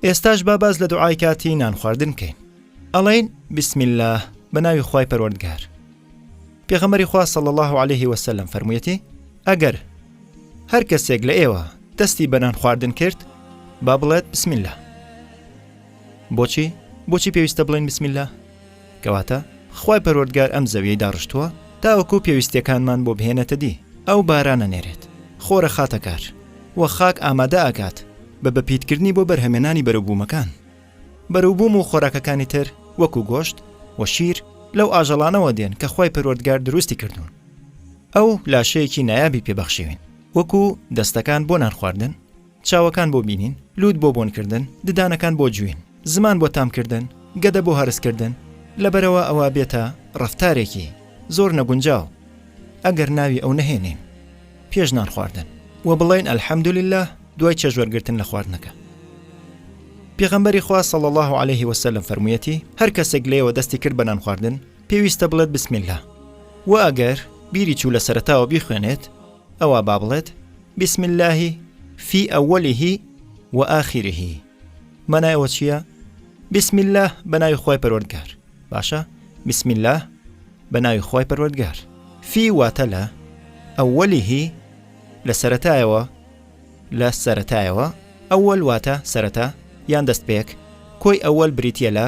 ئێستاش با باز لە دوعای کاتی نان خواردن بکەین ئەڵین بسم الله بە ناوی خی پەروەردگار پێغەمەری خوا صل الله عليه وسلم فەرموویەتی ئەگەر هەر کەسێک لە ئێوە دەستی بەنان خواردن کرد با بڵێت بسم الله بۆچی بۆچی پێویستە بڵین بسم الله کەواتە خوای پەروەردگار ئەم زەویەی داڕشتووە تاوەکو پێویستیەکانمان بۆ بهێنێتە دی، ئەو باران ئەنێرێت، خۆر ئەخاتە کار، وە خاک ئامادە ئەکات بە بەپیتکردنی بۆ بەرهەمێنانی بەروبوومەکان. بەروبووم و خۆراکەکانی تر وەکو گۆشت و شیر لەو ئاژەڵانەوە دێن کە خوای پەروەردگار دروستی کردوون. ئەو لاشەیەکی نایابی پێ بەخشیوین وەکو دەستەکان بۆ نان خواردن، چاوەکان بۆ بینین، لووت بۆ بۆنکردن، ددانەکان بۆ جوین، زمان بۆ تامکردن، گەدە بۆ هەرسکردن، لەبەرئەوە ئەوە بێتە ڕەفتارێکی زۆر نەگونجاو ئەگەر ناوی ئەو نەهێنین پێش نان خواردن و بڵێین الحمدللە دوای چێژوەرگرتن لە خواردنەکە. پێغەمبەری خوا صلی اللە علیه وسلم فەرموویەتی، هەر کەسێک لێوە دەستی کرد بە نانخواردن پێویستە بڵێت بسم اللە وە ئەگەر بیری چوو لە سەرەتاوە بیخوێنێت، ئەوا با بڵێت، بسم اللە فی اوله و آخره مانای ئەوە چییە؟ بسم اللە بە ناوی خوای پەروەردگار باشە بسم اللە بە ناوی خوای پەروەردگار فی واتە لە ئەوەلیهی لە سەتایەوە لە سەتایەوە ئەوەل واتە سەرەتا یان دەست پێک کۆی ئەوەل بریتە لە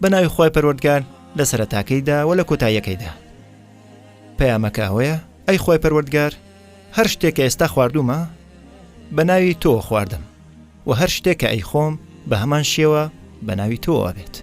بە ناوی خوای پەروەردگار لە سەرەتاکەیدا و لە کۆتاییەکەیدا پەیامەکە ئەوەیە ئەی خوای پەروەردگار هەر شتێک کە ئێستا خواردومە بە ناوی تۆ خواردم و هەر شتێک کە ئەی خۆم بە هەمان شێوە بە ناوی تۆوە بێت